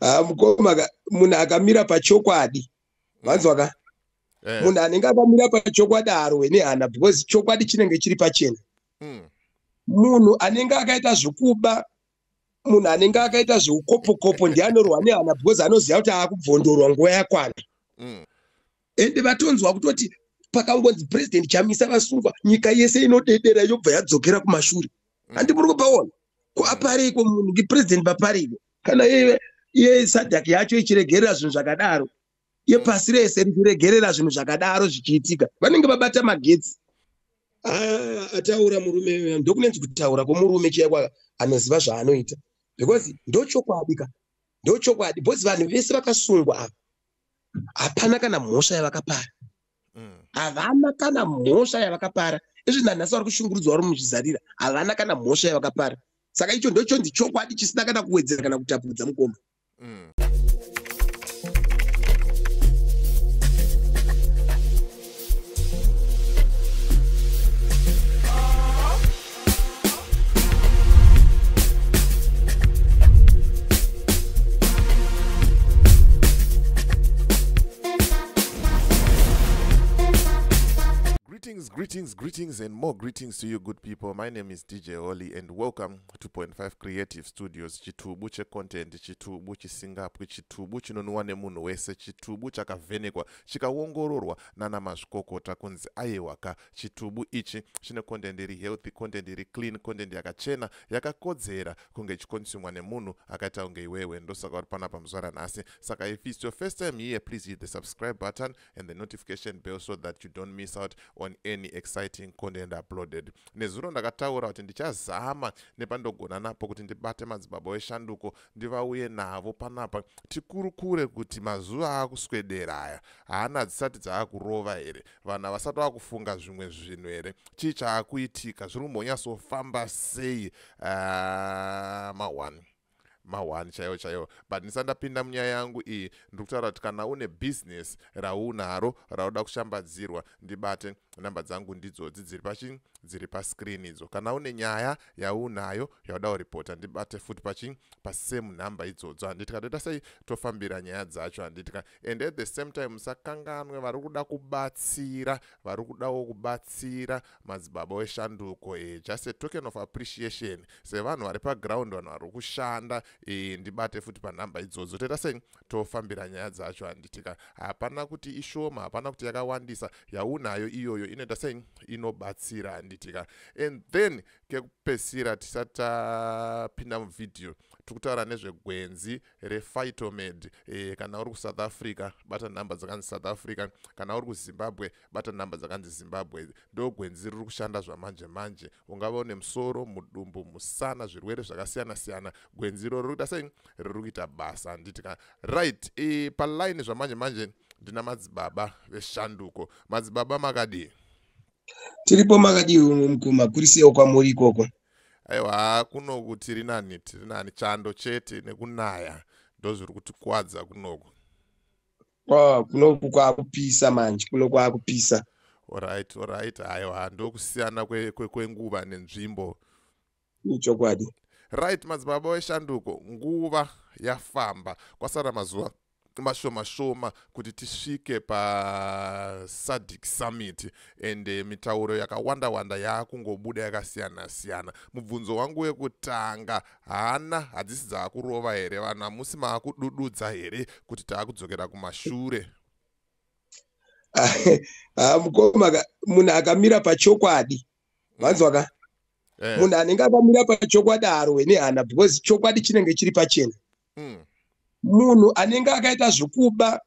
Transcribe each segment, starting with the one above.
ah, mukoma munhu akamira pachokwadi vanzwaka mm. eh. munhu anenge akamira pachokwadi harowe nehana because chokwadi chinenge chiri pachena mm. munhu anenge akaita zvekuba munhu anenge akaita zveukopokopo ndiye anorwa nehana because anoziva kuti aakubvondorwa nguva yakwana mm. ende vatonzwa kutoti pakangonzi president chamisa vasungwa nyika yese inodedera yobva yadzokera kumashure handi muri kupaona ko apariko munhu ki president papariko kana iye iye sadak yacho ichiregerera zvinhu zvakadaro yepasi rese richiregerera zvinhu zvakadaro zvichiitika vanenge vabata magetsi ah, ataura murume ndokunenzi kutaura kwomurume chaiko anoziva zvaanoita because ndochokwadi ka ndochokwadi because vanhu vese vakasungwa ava hapana kana mhosva yavakapara mm. havana mm. kana mhosva yavakapara izvi nanhasi vari kushungurudzwa vari muzvizarira havana kana mhosva yavakapara saka icho ndochonzi chokwadi chisina kana kuwedzera kana kutapudza mukoma mm. Greetings, greetings, greetings, and more greetings to you, good people. My name is DJ Oli, and welcome to Point Five Creative Studios. Chitubu che content, chitubu chisingapwi, chitubu chinonwiwa nemunhu wese, chitubu chakavhenekwa, chikaongororwa nana mazvikokota kunzi aiwaka chitubu ichi chine content iri healthy content iri clean content yakachena yakakodzera kunge ichikonsumwa nemunhu akaita kunge iwewe ndosaka uri panapa muzuva ranhasi saka if its your first time here please hit the subscribe button and the notification bell so that you don't miss out on any exciting content uploaded nezuro ndakataura kuti ndichazama nepandogona napo kuti ndibate madzibaba weshanduko ndivauye navo panapa tikurukure kuti mazuva akuswedera aya haana dzisati dzaakurova here vanhu havasati vakufunga zvimwe zvinhu here chii chaakuitika zviri kumbonyatsofamba sei ah, mahwani mahwani chaiwo chaiwo but ndisati ndapinda munyaya yangu iyi ndiri kutaura kuti kana une bhizinesi raunaro rauda kushambadzirwa ndibate namba dzangu ndidzodzi dziri pachi dziri pascreen idzo kana une nyaya yaunayo yauda kuripota ndibate futi pachi pasame number idzodzo handiti ka toita sei tofambira nyaya dzacho handiti ka and at the same time musakanganwe vari kuda kubatsira vari kudawo kubatsira madzibaba weshanduko e, just a token of appreciation sevanhu vari paground vanhu vari kushanda e, ndibate futi panhamba idzodzo toita sei tofambira nyaya dzacho handitika hapana kuti ishoma hapana kuti yakawandisa yaunayo iyoyo inoita sei inobatsira handitika and then kekupesira tisati tapinda muvhidhiyo tiri kutaura nezvegwenzi rephytomed e, kana uri kusouth africa bata nhamba dzakanzi south africa kana uri kuzimbabwe bata nhamba dzakanzi zimbabwe ndo gwenzi riri kushanda zvamanje manje ungava une musoro mudumbu musana zvirwere zvakasiyana siyana gwenzi iroro riri kuita sei riri kuita basa handiti ka right e, paline zvamanje manje ndina madzibaba veshanduko madzibaba makadii tiripo makadii mukoma kuri seiwo kwamuri ikoko aiwa kunoku tiri nani tiri nani chando chete nekunaya ndozviri kutikwadza kunoku oh, kunoku kwakupisa manje kuno kwakupisa orit orit aiwa ndokusiyana kwenguva kwe, kwe nenzvimbo ichokwadi right madzibaba weshanduko nguva yafamba kwasara mazuva mashoma shoma kuti tisvike pasadic summit and eh, mitauro yakawanda wanda yaakungobuda yakasiyana siyana mubvunzo wangu wekutanga hana hadzisi dzaakurova here vanhu hamusi maakudududza here kuti taakudzokera kumashure ah, mukoma munhu akamira pachokwadi vanzwaka mm. Eh. munhu anenge akamira pachokwadi haarwe nehana because chokwadi chinenge chiri pachena mm. munhu anenge akaita zvekuba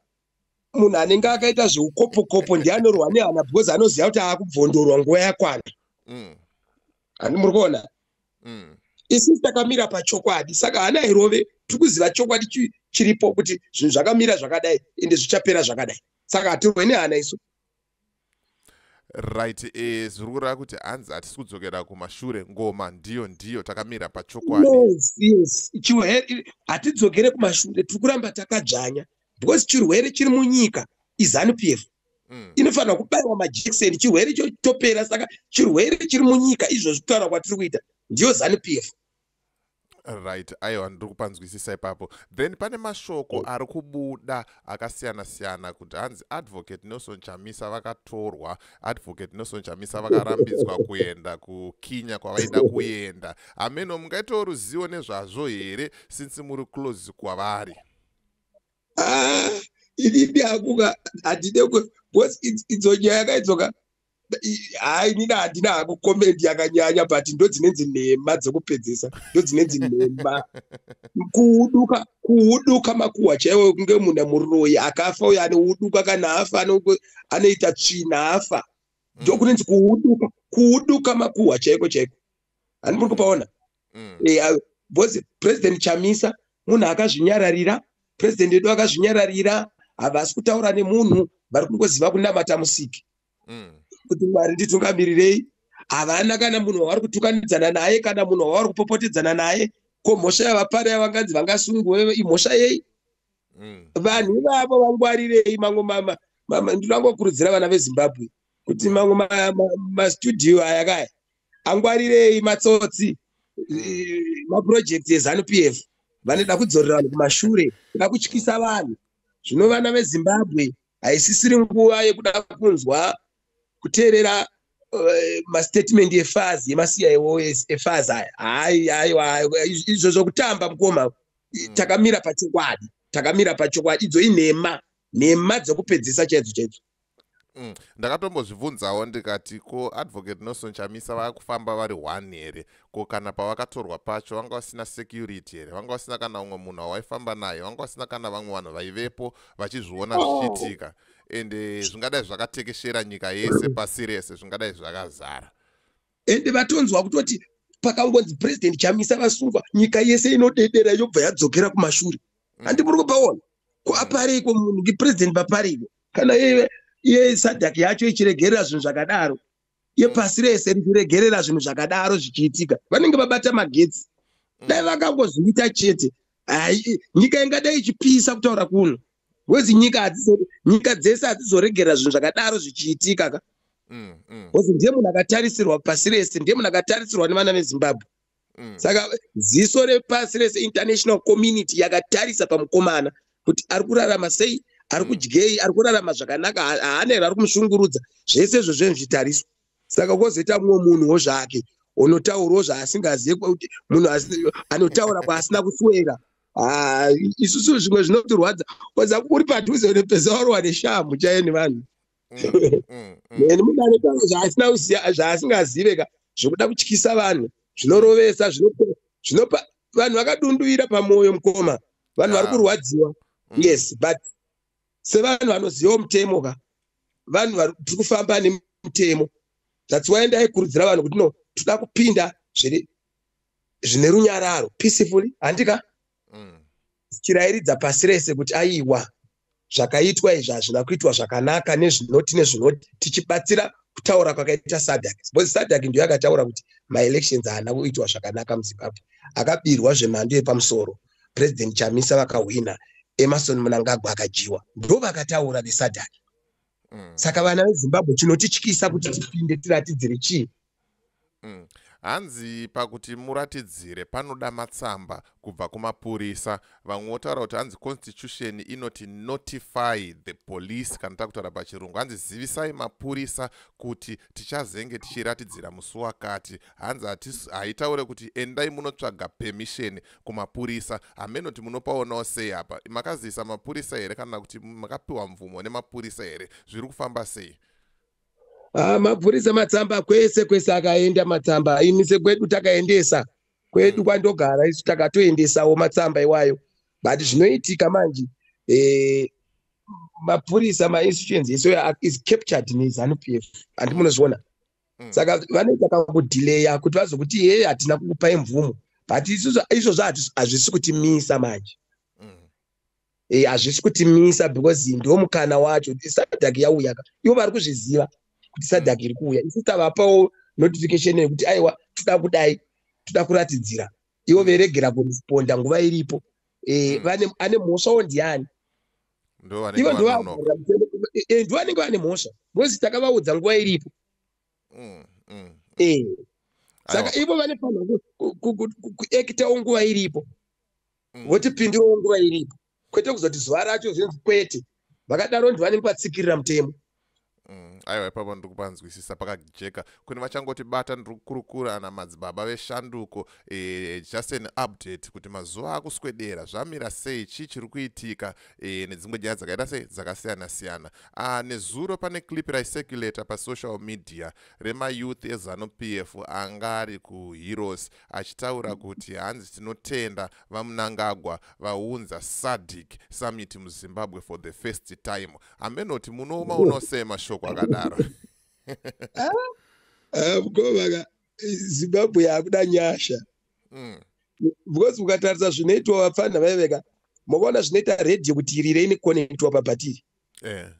munhu anenge akaita zveukopokopo ndiye anorwa nehana because anoziva kuti aakubvondorwa nguva yakwana mm. handi muri kuona mm. isisi takamira pachokwadi saka hana irove tiri kuziva chokwadi chiripo kuti zvinhu zvakamira zvakadai ende zvichapera zvakadai saka hatirwe nehana isu right e zviri kureva kuti hanzi hatisi kudzokera kumashure ngoma ndiyo ndiyo takamira pachokwadi yes, yes. chirwere hatidzokere kumashure tiri kuramba takadzvanya because chirwere chiri munyika izanu p f mm. inofanira kubaiwa majekiseni chirwere icho chitopera saka chirwere chiri munyika izvozvi kutaura kwatiri kuita ndiyo zanu p f right aiwa ndiri kupanzwisisa ipapo then pane mashoko oh. ari kubuda akasiyana siyana kuti hanzi advocate nelson chamisa vakatorwa advocate nelson chamisa vakarambidzwa kuenda kukinya kwavaida kuenda hameno mungaitawo ruzivo nezvazvo here since muri close kwavari ah, inini akuka handide bcause idzo nyaya yakaidzoka hayi nina handina hangu komendi yakanyanya but ndodzinenzi nhema dzokupedzesa ndodzinenzi nhema kuuduka kuuduka makuhwa chaiwo kunge munhu amuroyi akafa uyo anouduka kana afa anoita tsvina afa mm. ndokunenzi kuuduka kuuduka makuhwa chaiko chaiko hani muri kupaona mm. eh, bcause president chamisa munhu akazvinyararira president wedu akazvinyararira havasi kutaura nemunhu vari kungoziva kunamata musiki mm. kuti mwari nditungamirirei havana kana munhu wavari kutukanidzana naye kana munhu wavari kupopotedzana naye ko mhosva yavapari yavanganzi vangasungwe imhosva yei mm. vanhu ivavo vangwarirei mamwe mama ndinangokurudzira vana vezimbabwe kuti mm. mamwe mastudio ma, ma aya kaya angwarirei matsotsi mm. maproject ezanup f vanoda kudzorera vanhu kumashure da kutyisa vanhu zvino vana vezimbabwe haisisiri nguva yekuda kunzwa kuteerera eh, mastatement efazi yemasiya efazi aya hai aiwa izvo zvokutamba mukoma hmm. takamira pachokwadi takamira pachokwadi idzo inhema nhema dzokupedzisa chaidzo chaidzo Mm. ndakatombozvibvunzawo ndikati ko advocate nelson chamisa vakufamba vari one here ko kana pavakatorwa pacho vanga vasina security here vanga vasina kana umwe munhu wawaifamba naye vanga vasina kana vamwe vanhu vaivepo vachizviona oh. zvichiitika ende eh, zvingadai zvakatekeshera nyika yese pasi rese zvingadai zvakazara ende eh, vatonzwa kutoti pakangonzi president chamisa vasungwa nyika yese inodedera yobva yadzokera kumashure mm. handi muri kupaona ko mm. apareiko munhu ngepresident papareiko kana iye sadak yacho ichiregerera zvinhu zvakadaro yepasi rese richiregerera zvinhu zvakadaro zvichiitika vanenge vabata magetsi mm. dai vakangozviita chete nyika ingadai ichipisa kutaura kuno wezi nyika nyika dzese hadzizoregerera zvinhu zvakadaro zvichiitika ka mm, mm. ozi ndiye munhu akatarisirwa pasi rese ndiye munhu akatarisirwa nevana vezimbabwe mm. saka ziso repasi rese international community yakatarisa pamukomana kuti ari kurarama sei ari mm. kudyei ari kurarama zvakanaka haana here ari kumushungurudza zvese izvo zvenozvitariswa saka kozoita mumwe munhuwo zvake unotaurawo zvaasingazive kuti munhu anotaura kwaasina kuswera Ah, isusu zvimwe zvinotirwadza koza uri padhuze unopezaurwa neshamhu chaiyo nevanhu mm, mm, mm. and mudare kavo zvaasina kuziva zvaasingazive ka zvokuda kutyisa vanhu zvinorovesa zvinopa vanhu vakadunduvira pamwoyo mukoma vanhu vari ah. kurwadziwa mm. yes but sevanhu vanozivawo mutemo ka vanhu tiri kufamba nemutemo that's why ndaikurudzira vanhu kuti no toda kupinda zviri zvine runyararo peacefully handika mm. chirairidza pasi rese kuti aiwa zvakaitwa izvi hazvina kuitwa zvakanaka nezvinoti nezvinoti tichibatsira kutaura kwakaita sadak because sadak ndiyo akataura kuti maelections haana kuitwa zvakanaka muzimbabwe akabirwa zvemhando yepamusoro president chamisa vakahwina emarson munangagwa akadyiwa ndo vakataura vesadak mm. saka vana vezimbabwe chinotityisa kuti tipinde tiratidzire chii Mm. Hanzi pakuti muratidzire panoda matsamba kubva kumapurisa. Vamwe votaura kuti hanzi constitution inoti notify the police kana takutaura pachirungu. Hanzi zivisai mapurisa kuti tichazenge tichiratidzira musi wakati. Hanzi haitaure kuti endai munotsvaga permission kumapurisa. Hameno kuti munopaonawo sei apa. Makazivisa mapurisa here kana kuti makapiwa mvumo nemapurisa here? Zviri kufamba sei? Ah, mapurisa matsamba kwese kwese akaenda matsamba aimise kwedu takaendesa kwedu mm. kwandogara isu takatoendesawo matsamba iwayo but mm. zvinoitika manje eh, mapurisa mainstitutions ese is captured nezanu p f handi munozviona mm. saka vanoita kakudhileya kuti vazokuti heye hatina kukupai mvumo but izvozvo hazvisi kutimisa manje eh, hazvisi kutimisa because ndo mukana wacho sadak yauya ka ivo vari kuzviziva kuti sadak iri kuuya isu tavapawo notification yekuti aiwa toda kudai toda kuratidzira ivo veregera kuresponda nguva iripo eh, hmm. ane mhosvawo ndiani ivo ndovanenge vane mhosva because takavaudza nguva iripo hmm, hmm, eh, saka ivo vane fanira kuekitawo nguva iripo mm. votipindiwo nguva iripo kwete kuzoti zuva racho zvinzi kwete vakadaro ndi vanenge vatsikirira mutemo mm, aiwa ipapo ndiri kupanzwisisa pakajeka kune vachangoti bata ndiri kukurukura ana madzibaba veshanduko e, just an update kuti mazuva akuswedera zvamira sei chii chiri kuitika e, nedzimwe nyaya dzakaita sei dzakasiyana siyana ah, nezuro pane clip raicirculator pasocial media remayouth ezanu p f anga ari kuheroes achitaura kuti hanzi tinotenda vamunangagwa vaunza sadic summit muzimbabwe for the first time hamenoti munooma unosei mashoko akadaro mkomaka ah, ah, zimbabwe yakuda nyasha mm. because ukatarisa zvinoitwa vapfanha vaiveka makaona zvinoita radio kuti iri reine connectwa pabhatiri eh.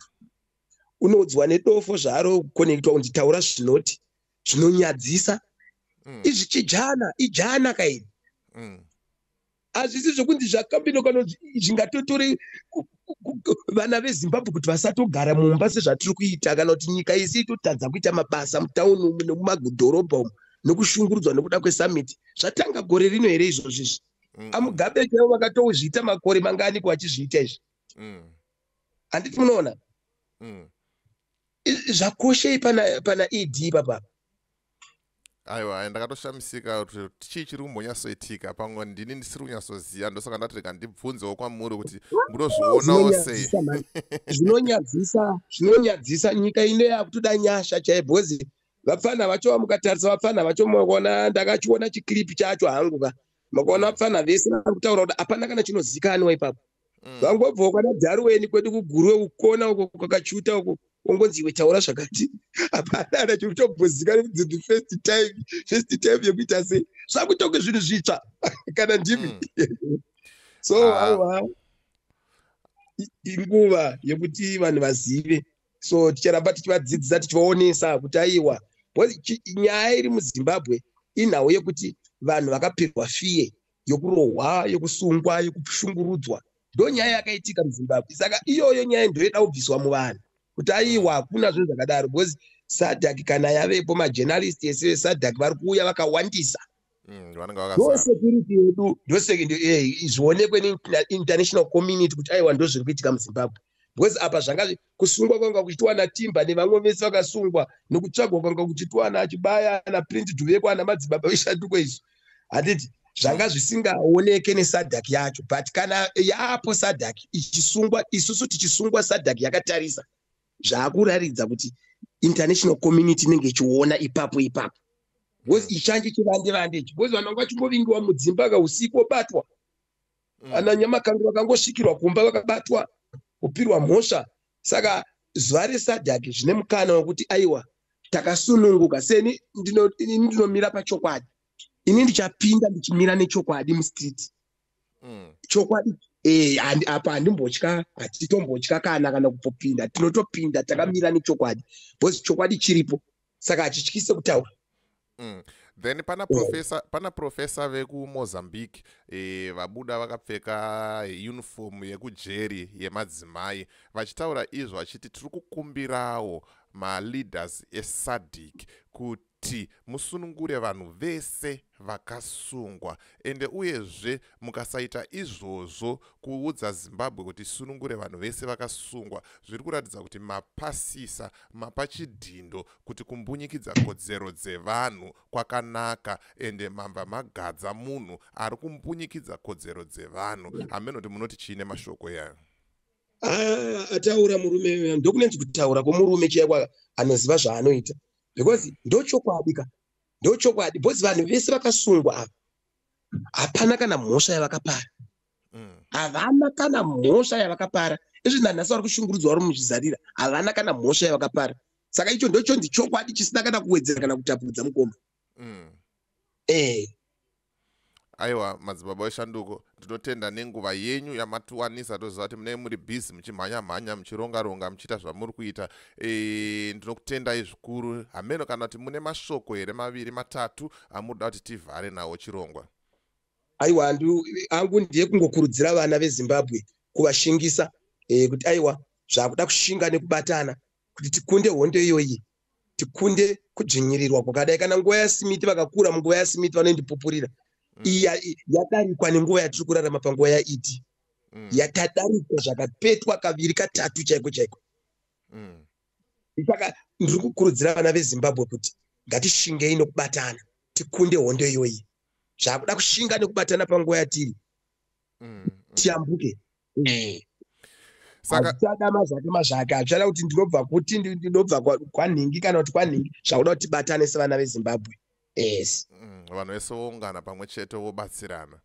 unoudzwa nedofo zvaaro connectwa kunzi taura zvinoti zvinonyadzisa mm. izvi chijana ijana kaini mm. hazvisi zvokunzi zvakambino kana zvingatotore vana vezimbabwe kuti vasatogara mumba sezvatiri kuita kana kuti nyika yese itotadza kuita mabasa mutauni umu nemumadhorobha umu nokushungurudzwa nokuda kwesummit zvatanga gore rino here izvozvo izvi mm. amugabe chaivo vakatozviita makore manganiko vachizviita izvi mm. handiti munoona mm. zvakoshei pana pana ed papa aiwa ndakatoshamisika kuti chii chiri kumbonyatsoitika pamwe ndini ndisiri kunyatsoziva ndosaka ndatirega ndibvunzewo kwamuri kuti munozvionawo sei zvinonyadzisa zvinonyadzisa nyika ino yakutoda nyasha chai bhozi vapfana vacho vamukatarisa vapfana vacho mona ndakachiona chiclip chacho hangu ka makaona pfana vese vari kutaura kuti hapana kana chinozikanwa ipapo mm. vangobvawo kwana dharuweni kwedu kugurwe ukona uko kwakachuta uko ongonzi iwe taura zvakati hapana ana chiri kutobvozikana kuti the first time first time yekuita sei zvakutonge zvinhu zvitsva kana ndimi mm. so ah. awa inguva yekuti vanhu vazive so ticharamba tichivadzidzisa tichivaonesa kuti aiwa nyaya iri muzimbabwe inhau yekuti vanhu vakapirwa fiye yokurohwa yokusungwa yokushungurudzwa ndo nyaya yakaitika muzimbabwe saka iyoyo nyaya ndoida kubviswa muvanhu kuti aiwa hakuna zvinhu zvakadaro because sadak kana yavepo majournalist ese vesadak vari kuuya vakawandisa Mm, ndosecurity yedu ndozvionekwe neinternational community kuti aiwa ndozviri kuitika muzimbabwe because apa zvanga kusungwa kwanga kuchitiwa natimba nevamwe vese vakasungwa nekutsvagwa kwanga kuchitiwa nachibaya naprince duveko ana madzibaba veshatuko izvo handiti zvanga zvisingaoneke nesadak yacho but kana yaapo sadak ichisungwa isusu tichisungwa sadak yakatarisa zvaakuraridza kuti international community inenge ichiona ipapo ipapo bcause mm. ichanje chivande vande ichi bcause vanhu vanga vachingovingiwa mudzimba ka usiku obatwa mm. ana nyamakango vakangosvikirwa kumba vakabatwa kupirwa mhosva saka zuva resadhaki zvine mukana wekuti aiwa takasununguka seni ndinomira pachokwadi ini ndichapinda ndichimira nechokwadi mustreet mm. chokwadi eh, apa handimbotya hatitombotya kana kana kupopinda tinotopinda takamira nechokwadi bcause chokwadi chiripo saka hachityise kutaura mm. then pana oh. professor oh. pana professor vekumozambique eh, vabuda vakapfeka uniform yekujeri yemadzimai vachitaura izvo vachiti tiri kukumbirawo maleaders esadic kuti kuti musunungure vanhu vese vakasungwa ende uyezve mukasaita izvozvo kuudza zimbabwe kuti sunungure vanhu vese vakasungwa zviri kuratidza kuti mapasisa mapa chidhindo kuti kumbunyikidza kodzero dzevanhu kwakanaka ende mamba magadza munhu ari kumbunyikidza kodzero dzevanhu hameno kuti munoti chiine mashoko yayo ah, ataura murume ndokunenzi kutaura kwomurume chiya kwa anoziva zvaanoita because ndochokwadi ka ndochokwadi because vanhu vese vakasungwa ava hapana kana mhosva yavakapara mm. havana kana mhosva yavakapara izvi nanhasi vari kushungurudzwa vari muzvizarira havana kana mhosva yavakapara saka icho ndochonzi chokwadi chisina kana kuwedzera kana kutapudza mukoma mm. eh aiwa madzibaba weshanduko ndinotenda nenguva yenyu yamatiwanisa toziva kuti munei muri busy muchimhanya mhanya muchironga ronga muchiita zvamuri kuita e, ndinokutendai zvikuru hameno kana kuti mune mashoko here maviri matatu amuri da kuti tivhare nawo chirongwa aiwa angu ndiye kungokurudzira vana vezimbabwe kuvashingisa e, kuti aiwa zvakuda kushinga nekubatana kuti tikunde hondo iyoyi tikunde kudzvinyirirwa kwakadai kana nguva yasimiti vakakura munguva yasimiti vanoindipupurira mm. iya yadarikwa nenguva yatiri kurarama panguva yaiti mm. yakadarikwa zvakapetwa kaviri katatu chaiko chaiko mm. saka ndiri kukurudzira vana vezimbabwe kuti ngatishingei nokubatana tikunde hondo iyoyi zvakuda kushinga nekubatana panguva yatiri tiyambuke eh. saka achada mazvake mazvake achada kuti ndinobva kuti ndinobva kwanhingi kana kuti kwanhingi zvakuda kuti tibatane sevana vezimbabwe yes mm, vanhu vese voungana pamwe chete vobatsirana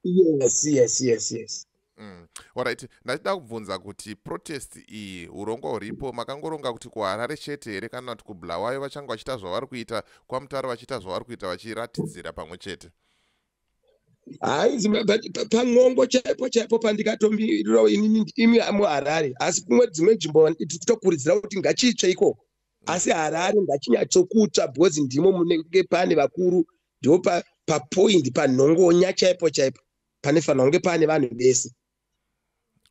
yes yes yes yes Mm. Alright, ndachida kubvunza kuti protest iyi urongwa huripo makangoronga kuti kuHarare chete here kana kuti kuBulawayo vachanga vachiita zvavari kuita kwaMutare vachiita zvavari kuita vachiratidzira pamwe chete? haizi pan'ongo chaipo chaipo pandikatomirirawo inini imi muharare asi kumwe dzimwe nzvimbo titokuridzira kuti ngachitsve ikoko asi harare ngachinyatsokutsva because ndimo munenge pane vakuru ndipo papoindi panhongonya chaipo chaipo panofanira kunge pane vanhu vese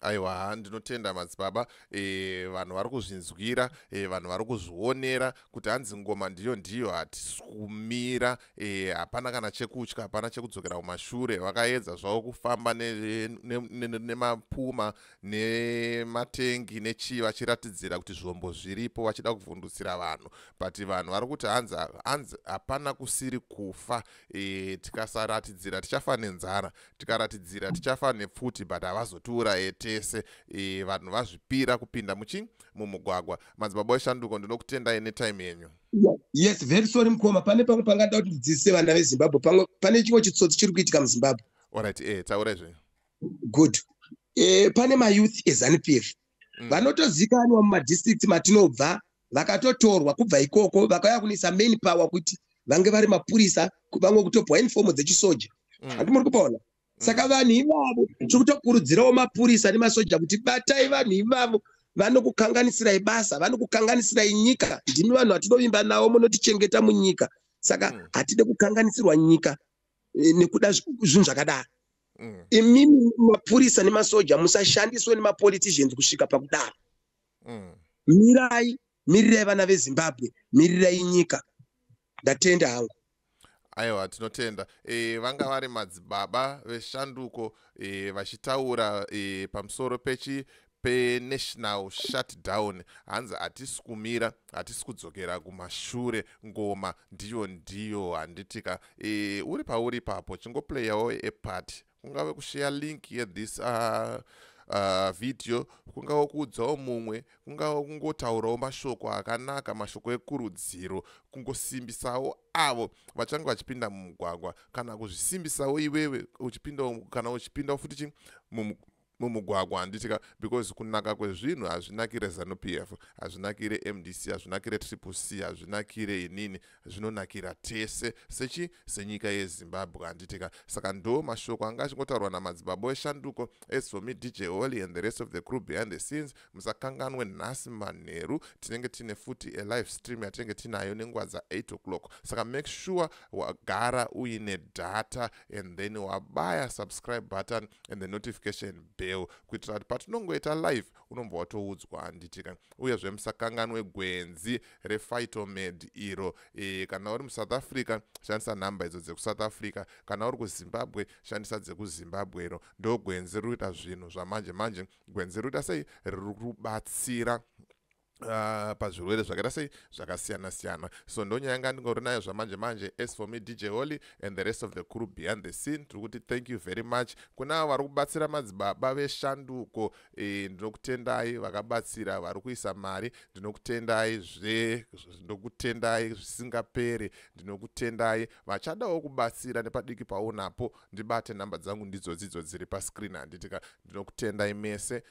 aiwa ndinotenda madzibaba e, vanhu vari kuzvinzwira e, vanhu vari kuzvionera kuti hanzi ngoma ndiyo ndiyo hatisumira e, eh, hapana kana chekutya hapana chekudzokera kumashure vakaedza zvavo kufamba nemapuma ne, ne, ne nematengi nechii vachiratidzira kuti zvombo zviripo vachida kuvhundutsira vanhu but vanhu vari kuti hanzi hanzi hapana kusiri kufa e, tikasaratidzira tichafa nenzara tikaratidzira tichafa nepfuti but havazotiuraye tese e, vanhu vazvipira kupinda muchi mumugwagwa madzibaba weshanduko ndinokutendai netime yenyu yes very sorry mukoma pane pamwe pangada kuti ndidzidzise vana vezimbabwe pamwe pane chimwe chitsotsi chiri kuitika muzimbabwe orit e eh, taurai zvenyu good e, pane mayouth ezanupf mm. vanotozikanwa mumadistrict matinobva vakatotorwa kubva ikoko vakauya kunoisa main power kuti vange vari mapurisa vamwe kutopwa inifomu dzechisoja mm. hati muri kupaona mm. saka vanhu ivavo tiri kutokurudzirawo mapurisa nemasoja kuti batai vanhu ivavo vanokukanganisirai basa vanokukanganisirai nyika ndimi vanhu vatinovimba navo munotichengeta munyika saka mm. hatide kukanganisirwa nyika eh, nekuda zvinhu zvakadaro mm. imimi mapurisa nemasoja musashandiswe nemapoliticians kusvika pakudaro mm. mirai mirirai vana vezimbabwe mirirai nyika ndatenda hangu aiwa tinotenda e, vanga vari madzibaba veshanduko e, vachitaura e, pamusoro pechi penational shutdown hanzi hatisi kumira hatisi kudzokera kumashure ngoma ndiyo ndiyo handitika e, uri pauri ipapo chingoplayawo epart kungave kusheya link yethis uh, uh, video kungava kuudzawo mumwe kungava kungotaurawo mashoko akanaka mashoko ekurudziro kungosimbisawo avo vachange vachipinda mumugwagwa kana kuzvisimbisawo iwewe uchipindawo kana uchipindawo futi chi mumugwagwa handiti ka because kunaka kwezvinhu hazvinakire zanupf hazvinakire mdc hazvinakire triple c hazvinakire inini zvinonakira tese sechi senyika yezimbabwe handiti ka saka ndo mashoko anga achingotaurwa namadzibabo eshanduko as for me dj holy and the rest of the crew behind the scenes musakanganwe nhasi manheru tinenge tine futi alive stream yatinenge tinayo nenguva dza8 o'clock saka make sure wagara uine data and then wabaya subscribe button and the notification bell kuitira kuti patinongoita live unobva watoudzwa handitika uyezve musakanganwe gwenzi refightomed iro e, kana uri musouth africa shandisa nhamba idzo dzekusouth africa kana uri kuzimbabwe shandisa dzekuzimbabwe iro ndo gwenzi riri kuita zvinhu zvamanje manje gwenzi riri kuita sei riri kubatsira Uh, pazvirwere zvakaita sei zvakasiyana siyana so ndonyaya yanga ndingori nayo zvamanje manje as for me dj holy and the rest of the crew behind the scene tiri kuti thank you very much kuna avo vari kubatsira madzibaba veshanduko e, ndinokutendai vakabatsira vari kuisa mari ndinokutendai zve ndinokutendai zvisingaperi ndinokutendai vachadawo kubatsira nepadiki paunapo ndibate nhamba dzangu ndidzodzidzo dziri pascreen handitika ndinokutendai mese